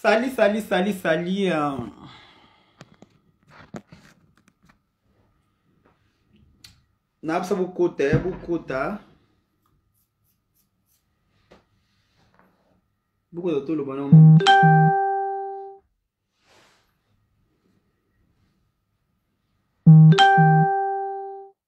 Salut, salut, salut, salut. Euh. Napsa bokota, ya bokota. Bokota toloba na moto.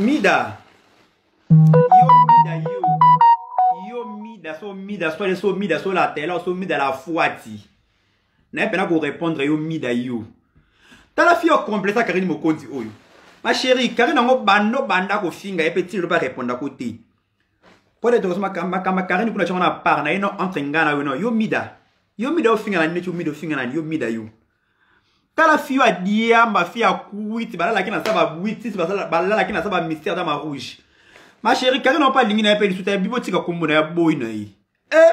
mida yo mida yo yo mida so mida so so mida so la tela so mida la fuati na ye mpena korépondre yo mida yo tala fi yo completa karine mokonzi oyo ma chérie karine yango bando banda kofinga ye mpe ntina lobi arépondako te Pode tokoso makamba kamba karini kuna chama na par na ino entre ngana yo no yo mida. Yo mida ofinga na nini tu mida ofinga na yo mida yo. Tala fiyo a diamba fiyo a kuiti balala kina saba buiti balala kina saba mystère dans ma rouge. Ma chérie karini opa lingi na ye pe lisuta ya bibo tika kombo na ya boy na ye. Eh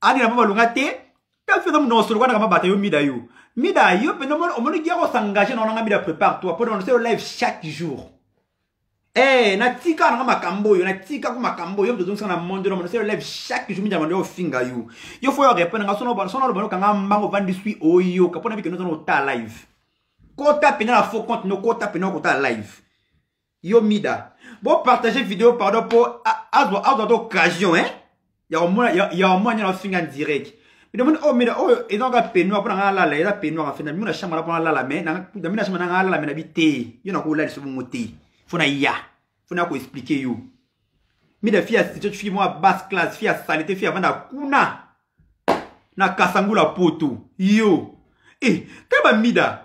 adi na mama longa te ta feza mu no solo kwana kama bata yo mida yo mida yo penda mo omoni dia ko s'engager na nga mida prépare toi pour annoncer live chaque jour eh na tika na makambo yo na tika ko makambo yo mtozo na monde no annoncer live chaque jour mida mando finga yo yo faut yo répondre nga sono sono lo banoka nga mbango vandi suis oyo kapona bikeno sono ta live kota penda na faux compte no kota penda ko ta live yo mida bo partage video pardon po azwa azwa to occasion hein ya omona ya omona nyana finga direct bino moni oyo mina oyo eza nga penoir mpona nga alala eza penoir en fait na bino na chambre na mpona alala mais na bino na chambre na nga alala mais na bi te yo nakolalisa bongo te fo na ya fo na koexplike yo mida fi ya sitio fi mwa basse classe fi ya salite fi avanda kuna na kasangula poto yo e eh, kaba mida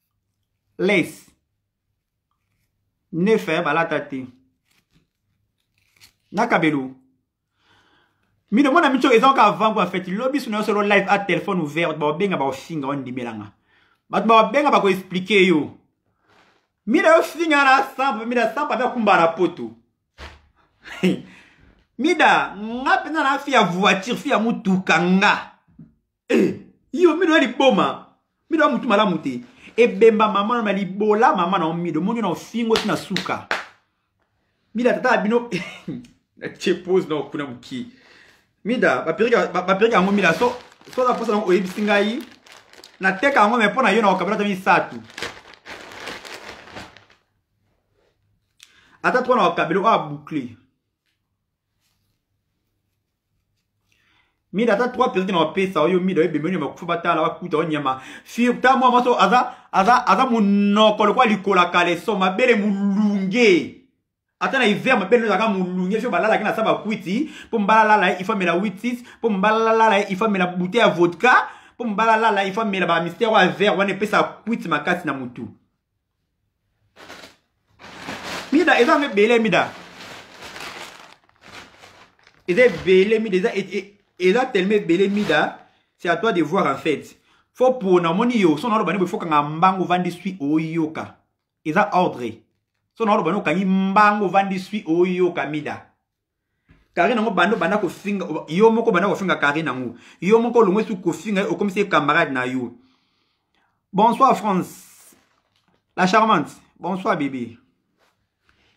les neuf eh, balata te na kabelo mino mona mico eza oka avant kwa fete lobi suna yo solo live a telefone ouvert bato baobenga baofinga ondimelanga bato baobenga bakoexplike yo mina yo finga na sampa mina sampa mpe akumba na poto mida nga mpenza na fi ya voiture fi ya motuka nga eh, yo mido ya liboma mido ya mutu malamu te ebemba mama na libola mama na omido moni na ofingo ti na suka mida tata ya bino natie pose na okuna moki mida bapirika yango mida so soza mposa nango oyebisi ngai nateka yango me mpo na yo na okabela ta misato ata twana wakabelo oyo aboucle mida ata trois percent na bapesa oyo mida oyo ebemeli makufa batala bakuta oyo nyama fir ta mwa maso aza aza aza monoko lokola likola kaleso mabele molunge ata na hiver mabele ezalaka molunge fio balalaki na sa bakwiti mpo mbala lala ye ifamela witis mpo mbala lala ye ifamela bute ya vodka mpo mbala lala ifamela bamistere oyo ya vert wana epesa kwiti makasi na motu mida eza nde bele mida eza ebele mida eza eza tellement ebele mida c'est à toi de voir en fait fo pona omoni yo so naoloba nde boye fokanga mbango vandi swi oyoka eza ordre so naoloba nde okangi mbango vandi swi oyoka mida Karine yango bando banda kofinga yo moko banda kofinga Karine yango yo moko olongwe su kofinga okomisi camarade na yo bonsoir France la charmante bonsoir bébé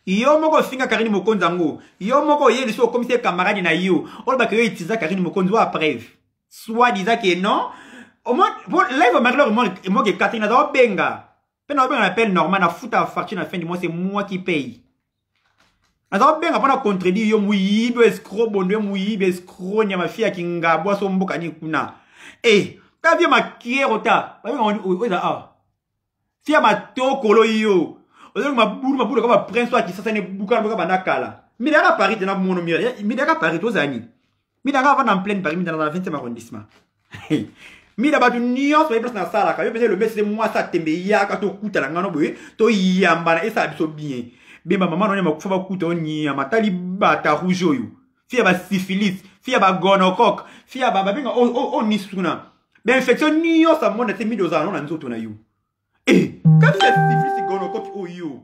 yo moko ofinga Karine Mokonzi yango yo moko oye liso okomisi camarade na yo olobaka yo itiza Karine Mokonzi wa preuve soit disant que non live marie-laure emoki ekataki naza obenga mpe na obenga na appel normal nafuta facture na fin du mois c'est moi qui paye aza kobenga mpo na contredire yo moyibi oyo escro bondo yo moyibi escro nyama fi ya kingabu aso mboka nini kuna e eh, ta vie makiero ta oyo eza awa fi ya matokolo yo ozoki mabulu mabulu kaka baprince oyo akisasa ne bukana boka banda kala midaka paris te na mono midaka paris tozala nini mida nga avanda en pleine paris mida na 20e arrondissement mida bato nyonso bayebi place nasalaka yo mpenza elombe sese mwasi atembe yaka tokutana ngano boye toyambana esala biso bien bemba mama nonye makufa bakuta o nyama tali bata rouge oyo fi ya basyphilis fi ya bagonocoque fi ya babenga o nisuna bainfection nyonso amona te mida ozala no na nzoto na yo e kati ya syphilis gonocoque oyo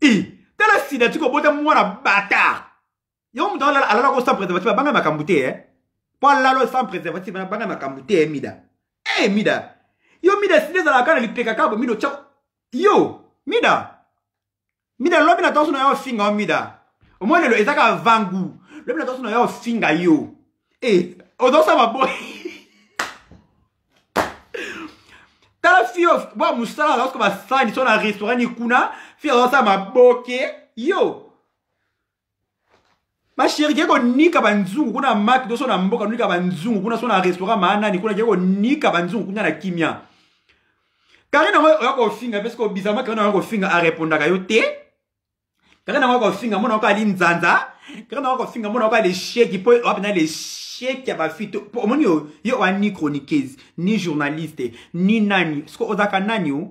e tala sida tikobota mwana bata yo moto alala alala ko sans préservatif abanga makambo te eh? mpo alala sans préservatif abanga makambo te eh, mida e eh, mida yo mida sili ezalaka kaka na lipeka kabo mida otya yo mida mida lobi na toso na yo ofinga yo mida omoi lelo eza kaka vangu lobi na toso na yo ofinga yo e ozosama boye tala fio bwa mosala azalasuka basani so na restaurant ni kuna fio azosala maboke yo basheri ke konika banzungu kuna maki to so na mboka nonika banzungu kuna so na restaurant maanani kuna ke konika banzungu kuna na kimia karine yango oya kofinga mpe soki obizama karine yango kofinga arepondaka yo te karine yango kofinga mona yoko ali nzanza karine yango kofinga mona yoko ali sheki mpo oya mpena le sheki ya bafite mpo omoni yo yo oya ni chroniqueuse ni journaliste ni nani soki ozalaka nani o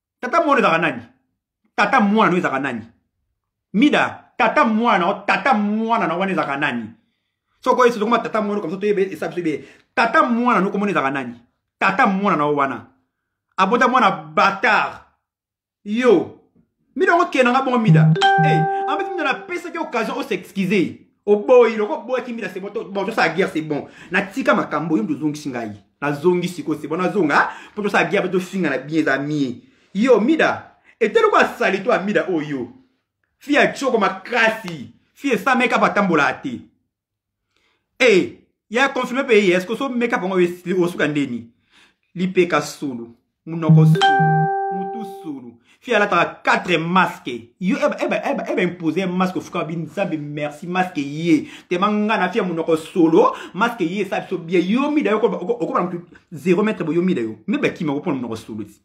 tata mwana ezalaka nani tata mwana no ezalaka nani mida tata mwana o tata mwana na wana ezalaka nani soko esi tokoma tata mwana kamso toyebe esa biso ebe tata mwana no komona ezalaka nani tata mwana na wana abota mwana batard yo mida okenda nga bongo mida hey, eh, en fait mida napesaki occasion o s'excuser oboyi loko oboyaki mina c'est bon bon tosala guerre c'est bon natika makambo yo mpe ozongisi ngai nazongi sikoyo c'est bon nazonga mpo tosala guerre mpe tofingana bien eza mie yo mida ete loko asali to amida oyo fi ya tioko makasi fi esa makeup atambolaka te e ya confirme mpe ye eske oso makeup yango osuka ndeni lipeka solo munoko mutu sulu fi alataka 4 masque yo eba eba eba eba impose masque ofuka bi nzambe merci masque ye tema nga na fi ya munoko solo masque ye esa biso bie yo mida yo okobala mutu 0 mètre bo yo mida yo mbe bakima kopona munoko solo ti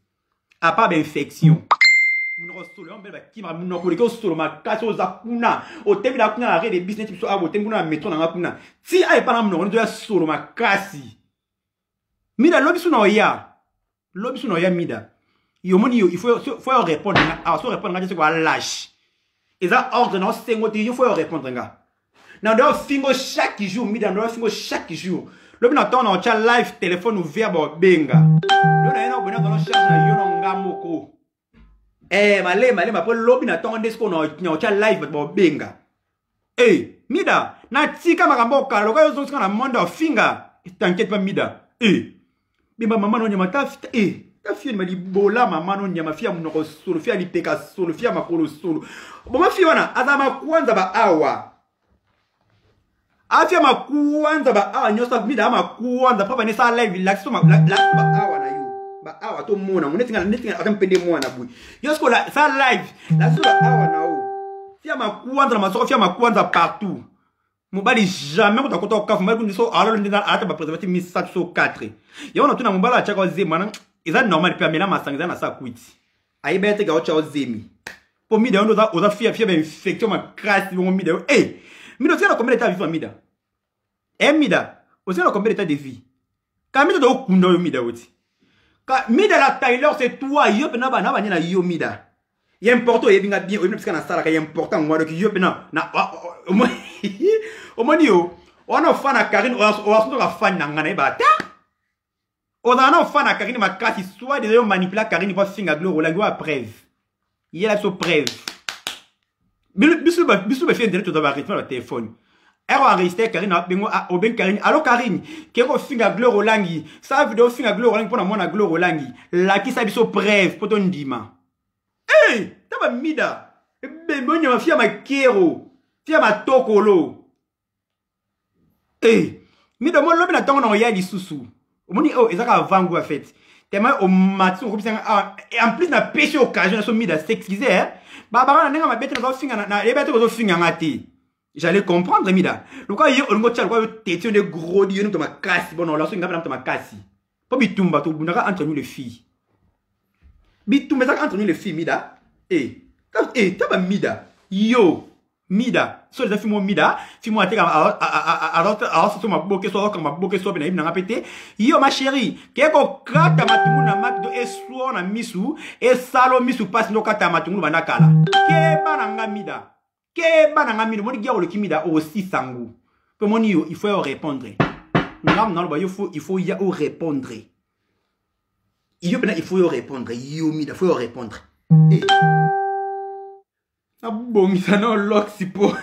apart ba infection munoko solo yango mbe bakima munoko leke osolo makasi oza kuna otemi na kuna na rede business biso awa otemi kuna na metro na nga kuna ti aye pana munoko nito ya solo makasi mida lobi suna oya lobi suna oya mida yomoni yo il faut faut yo répondre nga awa so répondre nga te seko alage eza ordre na osengo te yo faut yo répondre nga na ndo fingo chaque jour mida ndo fingo chaque jour lobi na temps na otya live téléphone ouvert ba obenga lo na ye na obena zalo charge na yo na nga moko Eh, malema malema mpo lobi na ntongo nde sikoyo na otya live bato baobenga e eh, mida natika makambo okala lokola ozosika na monde ofinga tankete mpa mida e eh, bimba mama no nyama ta e eh, ta fio nyama libola mama no nyama fia monoko solo fia lipeka solo fia makolo solo boma fio wana aza makwanza ba awa afia makuanza baawa nyonso mida makuanza mpo banesa live lakisi baawa na yo baawa tomona ngo netinga netinga ata mpe nde mwana boye yo sikola sa live lakisi baawa na yo fia makuanza na masoko fia makuanza partout mobali jamais kuta kota okafu mobali kundi so alalo nde alata bapreservative misato so 4 yango natuna mobali atyaka zema eza normal mpe amela masanga eza na sa kwiti ayeba ye te gaucho ao zemi mpo mida yo nde oza fia fia bainfection makasi bongo mida yo e mida otikala combien d'état vivant mida e mida otikala combien d'état de vie ka mida tokokunda oyo mida oti ka mida la taylor c'est toi yo mpe na bana banye na yo mida ya important oyebi nga bien oyebi na bisika nasalaka ya important yango wana yo mpe na omoni yo wana ofana karine oasundoka fani na ngai nayeba ata ozala na ofana karine makasi soit deja yo manipula karine po afinga gloire olangi wa preuve yela biso preuve biso bafie ndele toza barythme ya batelefone ero enregistre karine bengo obengi karine alo karine ke kofinga gloire olangi sa video ofinga gloire olangi mpo na mwana gloire olangi lakisa biso preuve mpo tondima e ta bamida ebembe onyama fia makero fia matokolo e mido mo lobi na ntongo nango ya lisusu omoni oyo oh, ezaka avant goût ya fete tellement omati okobisanga awa ah, en plus na pesi occasion na so mida s'excuse eh? babanga na ndenge mabe te nazofinga nayebi te kozofinga nga te j'allais comprendre mida lokola ye olingi otya lokola yo teti yo nde grodi yo nde moto makasi bona olaso ingape na moto makasi mpo bitumba tobundaka entre nous les filles bitumba ezalaka entre nous les filles mida e eh, e eh, ta bamida yo mida so eza fimo mida fimo ateka aososo maboke so aoka maboke so mpe nayebi nanga mpe te yo ma chérie ke kokata matungulu na maki to eswo na misu esalo misu mpasi nde okata matungulu banda kala keba na nga mida keba na nga mida omoni gia oleki mida osisa ngu mpe omoni yo il faut yo répondre ngambo naloba yo il faut ya o répondre yo mpena il faut yo répondre yo mida faut yo répondre hey. Eh. nabongisa na oloxi mpo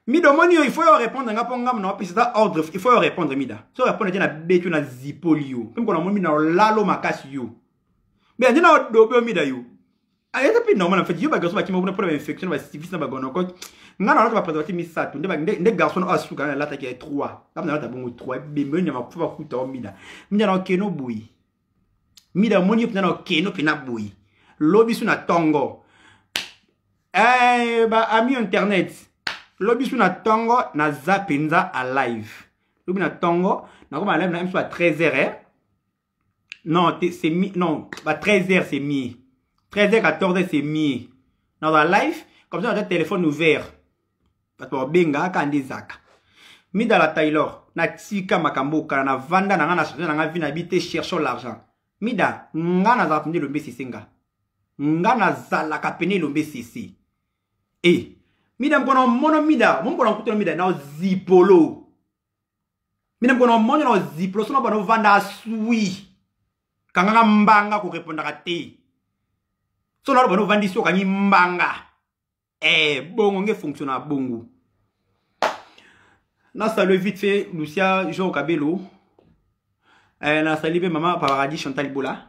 mida omoni yo il faut yo répondre nga mpo nga mona opesa eza ordre il faut yo répondre mida so répondre te na beti yo na zipoli yo mpe mokona momi na olalo makasi yo mida nde na odobe yo mida yo eza mpe normal en fait yo bagarçon bakima kuna mpo na bainfection na basivis na bagonokoke nga na olata bapreservatif misato nde garçon oyo asuka na alataki ya 3 kama na olata bongo 3 ebembe yo nyama kufa bakuta yo mida mida na okeno boye mida omoni yo mpenza na okeno mpenza boye lobi su na tongo eh, ba ami internet lobi su na tongo naza mpenza a live lobi na tongo nakoma live na mso ba 13 heures eh? non c'est mi non ba 13 heures c'est mi 13 heures 14 heures c'est mi naza live comme ça naza téléphone ouvert bato babengaka kaka nde zaka midala taylor natika makambo okala na vanda na ngai na change na ngai vi na bi te cherchons l'argent mida nga nazalaka pende elombe sese nga nga nazalaka pene elombe sese e eh, mida mokona omono mida momokona nkutana mida na zipolo mina mokona omono na zipolo sona bana ovanda asui kanganga mbanga korepondaka te sona alo bana ovandisi okangi mbanga eh bongo nge fonction na bongo na salue vite fait lucia jean kabelo eh, na sali mpe mama paradis chantal bola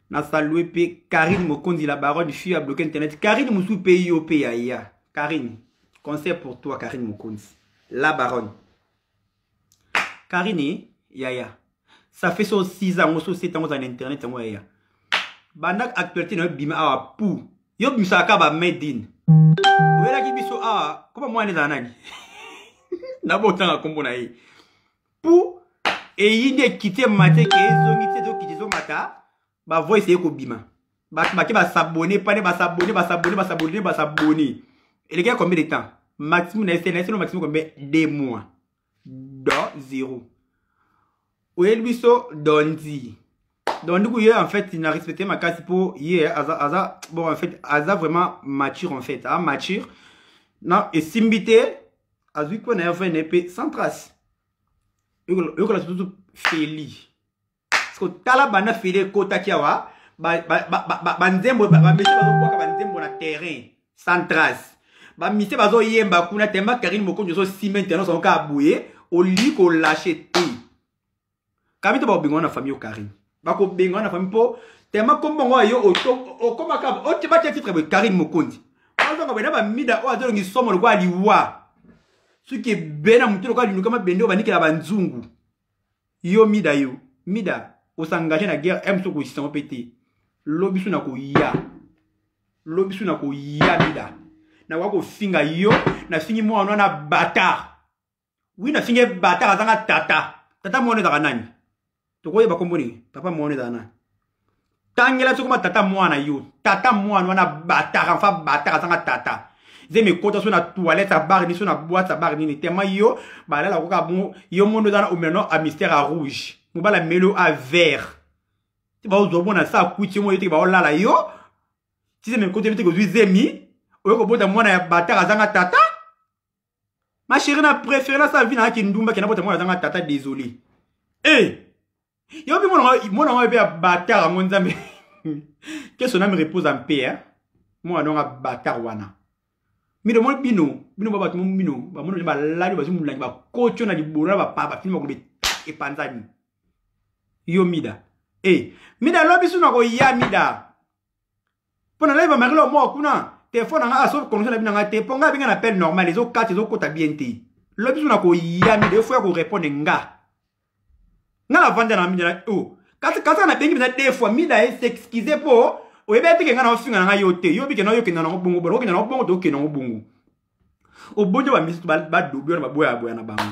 na salue mpe karine mokonzi la baronne fille ya bloke internet karine mosusu mpe yo mpe yaya karine conseil pour toi karine mokonzi la baronne Karine yaya ça fait so 6 ans so 7 ans na internet yango yaya banda actualité na yo bima awa pou yo bimisaka kaka ba made in oyelaki biso awa koma mwana ezala nani nabotanga nkombo na ye pou eyindi ekite mate ke ezongi te ezokite ezomata ba voice eko bima ba ba ke ba s'abonner pas ne ba s'abonner ba s'abonner ba s'abonner ba s'abonner et les gars combien de temps maximum na essayer na essayer maximum combien deux mois do zero oyeli biso dondi donc du coup ye en fait il na respecté ma case po ye aza aza bon en fait aza vraiment mature en fait a mature non esimbi te azwi mpo na ye vrene mpe sans trace yokola surtout feli siko tala banda file ekotaki awa banzembo bameshe bazokwaka banzembo na terrain sans trace bamise bazoyemba kuna tema karine mokonzi ozosima internet yango kaka boye olingi kolashe te kamito bakobengana na famille yo karine bakobengana na famille mpo tema kombo yango yo okomaka otyebaki titre boye karine mokonzi ozonga boye na bamida oyo azolongi somo lokola liwa soki ebele na motu lokola linukama bende oyo banikela banzungu yo mida yo mida osangage na guerre m soko isisango mpe te lobi su na koya lobi su na koya mida nakoya kofinga yo nafingi mwana wana batar wi nafingi ye batar azanga tata tata mwana ezalaka nani tokoyeba kombo nini papa mwana ezala nani tangela soki ma tata mwana yo tata mwana wana bataka mfa bataka azanga tata nzembe ekota so na toilette ya bar nini so na boite ya bar nini tema yo balala koka bongo yo mondo eza na omeno a mystère ya rouge mobala melo a vert ti baozwa mwana sa akuti yo moyo teke baolala yo ti nzembe ekota yo teke ozwi zemi oyo kobota mwana ya bataka azanga tata ma chérie na préféré nasala vi nanga kindumba kenda bota mwana azanga tata désolé e eh! yo mpe mwana ngai mpe ya batar yango nzambe que son ame repose en paix hein? mwana nanga batar wana mino mwa bino bino ba bato bino bamoni bani balali bazwi molangi bakotyo na libolo na bapaa bafilme bakolobe epanzani yo mida e eh! mida lobi suna koya mida mpo na laiva marilo moko kuna telefone na ngai asoki connexion na bino na ngai te mpo ngai abenge na appel normal ezokata ezokota bien te lobi biso na koyami de fois ya korepondre nga nga na vanda na mida o oh. kasi kasi nga nabengi mpenza de fois mida ye s'excuse mpo oyebi ete ke nga na ofinga na ngai yo te yo bikenda oyokenda nango bongo bona okenda nango bongo tokenda nango bongo obonjo bamisusu badobi wana baboyaboya na bango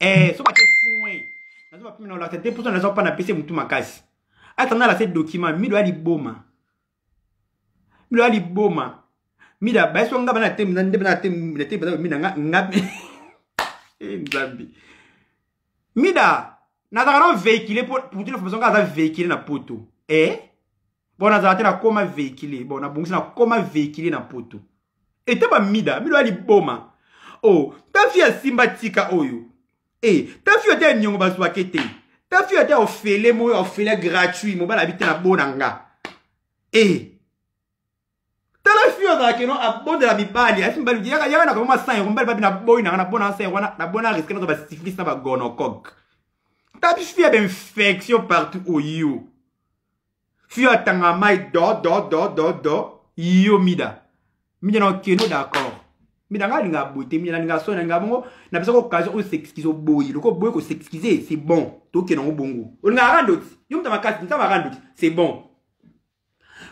eh soki ate foin nazo bapimi na olakisa te mposo naza mpana pese motu makasi atanda lase document mido ya liboma mido ya liboma mida bayeso nga bana te nde bana te na te bana mina nga nga eh, nzambe mida nazalaka na véhicule pour pour toute la formation nga aza véhicule na poto eh bon nazala te nakoma véhicule bon nabongisi nakoma véhicule na poto ete bamida mido ya liboma o oh, ta fille asimba tika oyo e eh, ta fille ata ya niongo bazwake te ta fille ata ofele moyo ofele gratuit mobali abi te na bona nga e eh, tala fille azala keno abondela mibali asi mibali yaka yaka na komoma san yango mibali babi na boyi nanga na bona na san yango wana na bona na riske nazo basifilis na bagonocoque ta fille ya bainfection partout oyo fio atanga mai do do do do do yo mida mida na okeno d'accord mida nga alinga boye te mida nalinga soni nalinga bongo napesaka occasion oyo s'excuse oboyi loko oboyi ko s'excuse c'est bon tokena ngo bongo olinga arandoti yo muta makasi nzambe arandoti c'est bon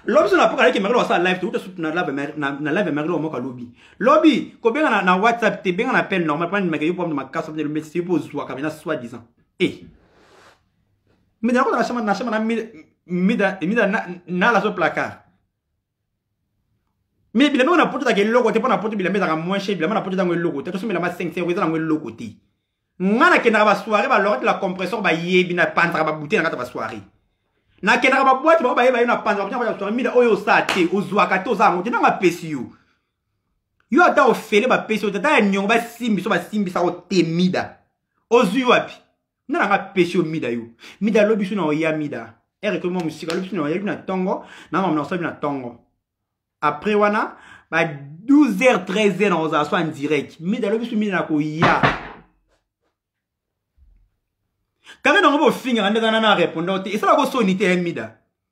lobi so napoka aleki makelo asala live teuta sutu na live ya makelo moko alobi lobi kobenga na, na whatsapp te benga na appel normal mpona ndimaka yo mpona makasi mpona elombe te yo mpo ozwaka mpena soit disant e eh. mida nakota na shama na shama na mida mida na na la so placard mais bilamba na poto take eloko te mpo na poto bilamba ezaka moins cher bilamba na poto ezango eloko te tosombelama 5 euro eza nango eloko te nga nakendaka basoire balorete la compresseur bayebi napanzaka babute na kati ya basoire nakendaka babwate bango bayeba yo napanzaka babute na kati ya basoire mida oyo osaa te ozwaka te oza yango te nanga apesi yo yo ata ofele bapesi yo te ata ya niongo basimbi so basimbisa yo te mida ozwi wapi nga nanga pesi yo mida yo mida lobi biso na oya mida ere ekomi mwa mosika lobi biso na oya na ntongo na mamna osali na ntongo après wana ba 12 heures 13 heures nakozala so en direct mida lobi biso mida na koya kaka nango bofingaka nde kana na repondant te esalaka osoni te ya mida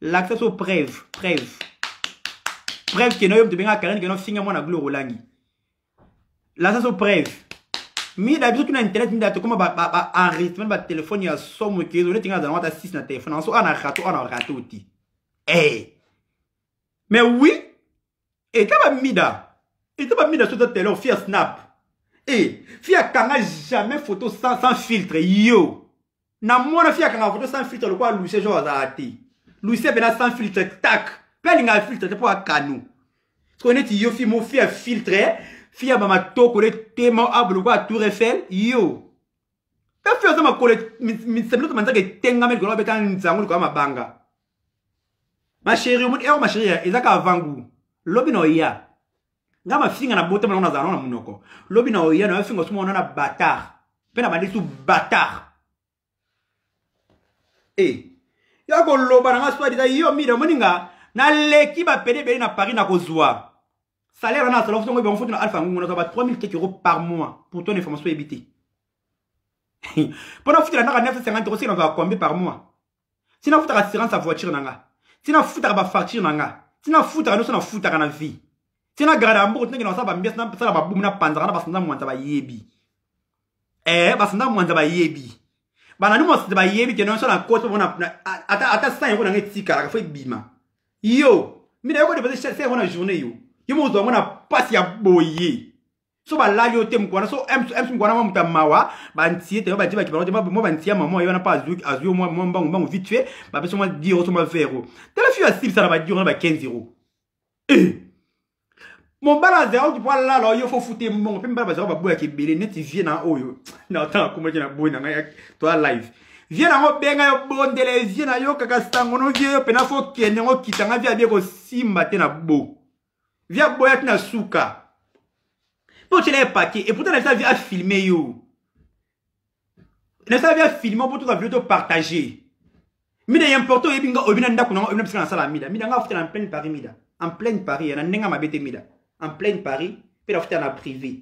lakisa so preuve preuve preuve keno yo moto benga karine keno finga mwana gloire olangi lakisa so preuve mida biso tuna internet mida tokoma baenregistrement batelefone ya somo ke ezole tinga nazala wata 6 na telefone yango so ana rato ana rato te e mais oui eta ba mida eta ba mida soto tele ofia snap e fi akanga jamais photo sans, sans filtre yo namona fi akanga photo sans filtre lokola lucie jo azala te lucie pena sans filtre tak mpe alingaka filtre te mpo akano soko neti yo fi mo fi ya filtre fi ya bamatoko le tema abo lokola tour eiffel yo efi oza makolo misabiloto manzaka etengami likolo abeta nzango likolo ya mabanga ma chérie omoni eo ma chérie eza ka avant goût lobi na oya nga mafinga na botama nango nazala nango na monoko lobi na oya na yo finga osuma wana na batard mpe na bandisi batard e eh, yo akoloba na nga soit disa yo mida omoni nga naleki bapede ebele na paris nakozwa salaire wana asala fusongo ebango foto na alpha ngungu nazwa ba 3000 quelque euro par mois pour ton information oyebi te mpo na futela naka 950 euro seke nazwaka combien par mois ti nafutaka assurance ya voiture na nga ti nafutaka bafacture na nga ti nafutaka nyonso nafutaka na vie ti nagarda ya mboko tinakenda kosala bambiasi nasala babumu napanzaka na basanza mwanza bayebi ee eh, basanza mwanza bayebi banani mosanza bayebi kenda nyonso na koto mona ata san yango nanga etikalaka fo ebima yo mina yoko depose chef yango na journée yo yo mozwa yango na mpasi ya boye so balali yo te mokwana so ms mokwana mwa moto ya mawa bantie te badie bakipana te mwa bantie ya mama ye wana mpo azwi yo mwa mbangu mbangu vite fait bapesa mwa diro so mwa vero tala fiyo asilisa na badiro na ba 15 euro eh! mobala azalaki oki mpo alala yo fo fute mbongo mpe mibala bazalaki baboyaka ebele neti vie na oyo na otanga komaki na boyi na ngai toa live vie nango obenga yo bondela vie na yo kaka sango no vie yo mpena fo kende ngo kita ngai vie abie kosimba te na bo vi aboya ti na suka mpe otyela ye paquet eputa na vi afilme yo nasala vi afilme mpo toza vilo topartage mida ya importe oyebi nga oyebi na ndako nango oyebi na bisika nasala mida mida nga afutela en pleine paris mida en pleine paris na ndenge ya mabe te mida en pleine paris mpe nafutela na privé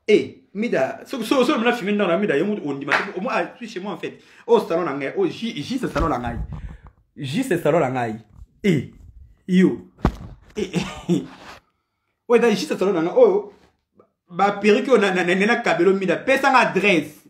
Eh, Mida, so so so mna filme ndana Mida yemu ondima so moi ah, suis chez moi en fait. Oh salon na ngai, oh J J c'est salon na ngai. J c'est salon na ngai. Eh, yo. Eh, eh. Ouais, da J c'est salon na ngai. Oh, ba perruque na na na kabelo Mida, pesa nga adresse.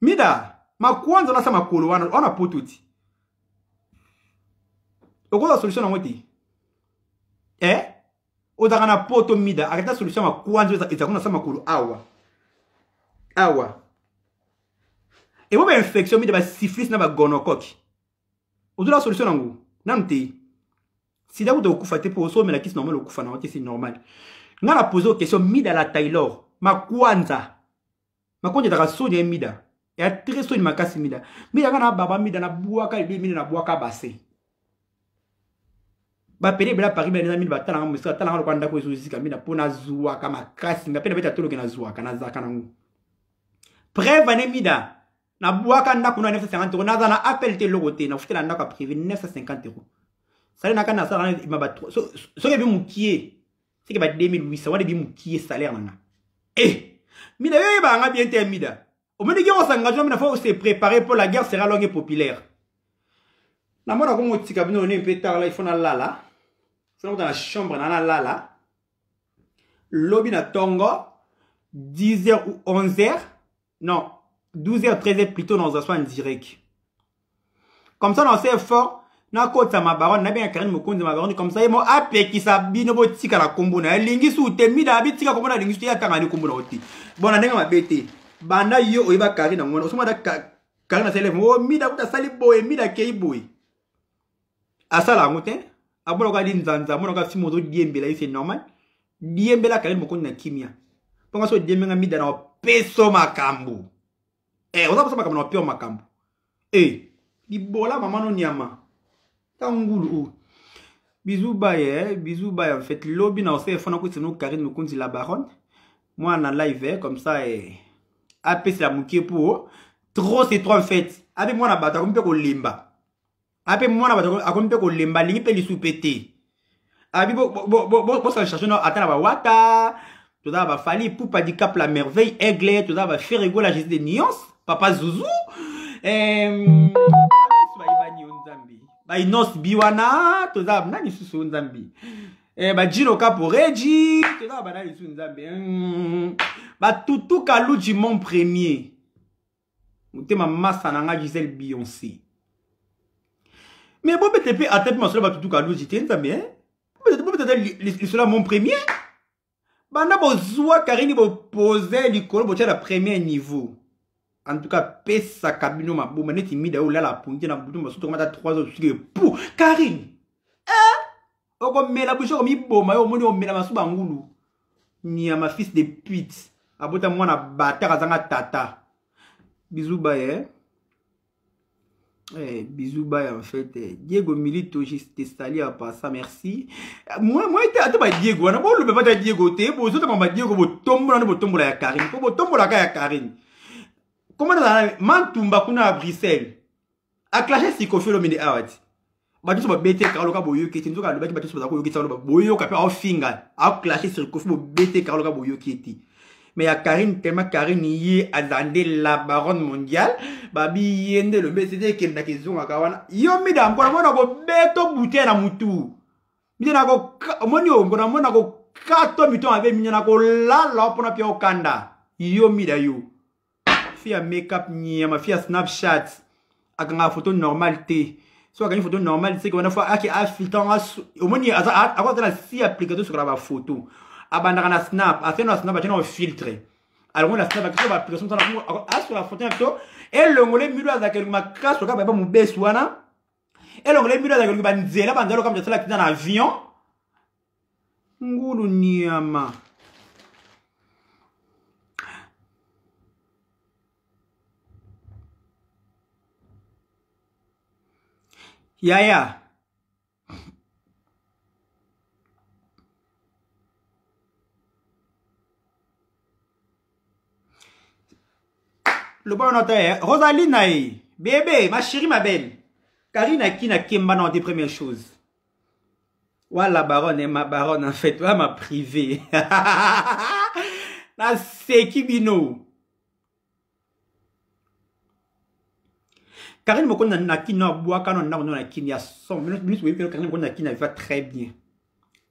mida makwanza nasa makolo wana wana poto ti okozwa solution nango te eh? ozalaka na poto mida akata solution ya makwanza ezalaka nasa makolo awa awa ebo bainfection mida basiflis na bagonokoki ozolaka solution nango nanu te sida kuta okufa te mpo osomela kisi normal okufa nango te si normal nga na pose question mida la taylor makwanza makwanza ezaka soni ya mida ya très soni makasi mida mida nga na baba mida na bwaka libe mida na bwaka base bapede ebela paris bela eza mini batalanga mosika atalanga lokola ndako ezozika mina mpo nazwaka makasi nga mpe nabeta toloke nazwaka nazalaka nango preuve ane mida na bwaka ndako na 950 euro naza na appel te eloko te nakofutela ndako ya privé 950 euro salaire na kani nasala na ebima ba soki ebi mokie soki ba 2800 wana ebi mokie salaire na nga e eh! mina yo oyebaka nga bien te mida omoni guerre osangagement mina faut se préparer mpo la guerre sera longue et populaire namona komotika bino ne mpe tala ifo nalala fona kuta na chambre na nalala lobi na tongo 10h ou 11h non 12h 13h plutôt na ozaswa direct comme ça na ose effort nakotisa mabarone nabenga karine mokonzi ya mabarone comme ça ye mo apekisa bino botika na kombo na ye alingi su te mida bitika kombo na alingi su te ye atangani kombo na yo te bona ndenge mabe te banda yo oyeba karine yango wana osomata karine asali o mida kuta asali boye mida akei boye asala yango te amonaka linzanza amonaka fimo ozodiembela ye se normal diembela kali mokondi na kimia mpo nga so odiembenga mida na opeso makambo e eh, oza kosa makambo na opio makambo e eh, libola mama no nyama ta ngulu oyo bizu baye eh, bizu baye en fait lobi na osefo na kwisino karine mokonzi la baronne mwana live comme ça eh, apesela moke mpo trop c'est trop en fait abe mwana bato akomi mpe kolemba ape mwana bato akomi mpe kolemba alingi mpe lisu mpe te abi bosala change no ata na bawata toza na bafali pupa dicap la merveille aigle toza na baferego la jésus de nuance papa zuzu bayebani yo nzambe bainose bi wana toza nani susu yo nzambe eh, bajino kaporeji toza na banani susu nzambe batutuka luji mon premier motema masa na nga gisele bionce mais bobete mpe ata mpe masolo bato duka aluji te nzambe eh? bobete ata lisolo ya mon premier banda bozwa karini bopose likolo botya na premier niveau en tout cas pesaka bino maboma neti mida oyo olala apungi te na butu masutu komata 3 heures osuki epu karine okomela bouche okomiboma yo omoni omela masuba ngulu nyama fils de pute abota mwana bataka azanga tata bisous baye eh? Eh, bisous bye en fait eh, diego milito te sali ya pasa merci moi moi te ata badiego wana bolobe bata diego te bozotama badiego botombola nde botombola ya karine mpo botombolaka ya karine koma nazala mantumba kuna ya bruxelles aklaje sikofi olobi nde awa ti bato nyonso babeteka oloka boyoki ete nzoka alobaki bato nyonso baza koyokisa oloba boyoka mpe aofinga aoklaje sikofi bobeteka oloka boyoki ete mais ya karine tellement karine ye azala nde la baronne mondiale babi ye nde elobi esete ekendaka ezongaka wana yo mida mpona mona kobeto butee na mutu mida omoni yo mpona mona kokato mito mabe minya na kolala mpona pia okanda yo mida yo fille ya makeup nyama fille ya snapchat akangaka photo normale te soki akangi photo normale seke wana fo ake afiltan omoni akoza na si application sokola bafoto abandaka na snap afia na snap atya na filtre alongo na snap akisa baapplication asola photo na pito elongole milo azalaka elingo makasi okaka bayeba mobesi wana elongole mbino azalaki oluki banzela banzela okamisa asala akita na avion ngulu nyama yaya loba wana ta eh, rosaline na ye bebe ma chérie ma belle karine aki na kemba na te première chose wa la baronne eh, ma baronne en fait wa ma privée naseki bino Karine Mokonda na kin na bwaka na ndako na kin ya son minute boyebi Karine Mokonda na kin na va très bien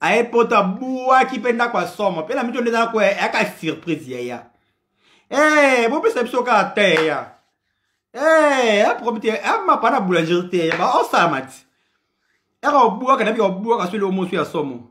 aye poto abwaki mpe ndako ya somo mpe na mito nde ezala koya yaka surprise yaya ee eh, bopesa biso kaka te ya ee eh, aprobi te amapa na boulangerie te ya baosalama ti eka obwaka na bika obwaka so eloko mosu ya somo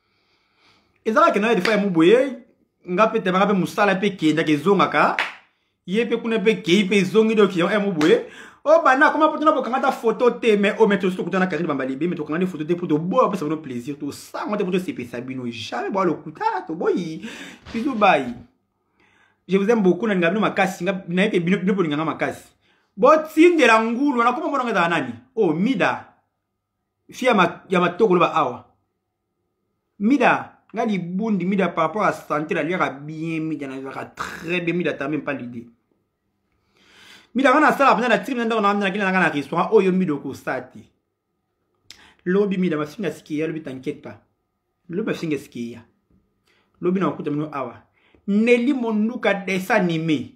ezalaki na defa ya muboye nga mpe tebaka mpe mosala mpe ekendaka ezongaka ye mpe kuna mpe ekei mpe ezongi doki ya muboye obanda akoma mpo tona bokanga ata foto te mais oyo mete osi tokutana karine bambalibe me tokanga nde foto te mpo toboya opesa bino plaisir tosanga te mpo tosepesa bino jamais boya lokuta toboyi bizu bayi je vous aime beaucoup nalinga bino makasi nayebi bino mpo olinganga makasi botindela ngulu wana koma monanga ezala nani o oh, mida fi ya matoko loba awa mida nga libundi mida par rapport à santé naliaka bien mida nazalaka très bien mida tame mpa lide mida nga nasala mpenza natiki mpenza ndako naamnakenda nanga na restaurant oyo mida okosa te lobi mida mafinga asikeya lobi t'inquiète pas lobi mafinga asikeya lobi na kokuta mino awa neli monduka desanime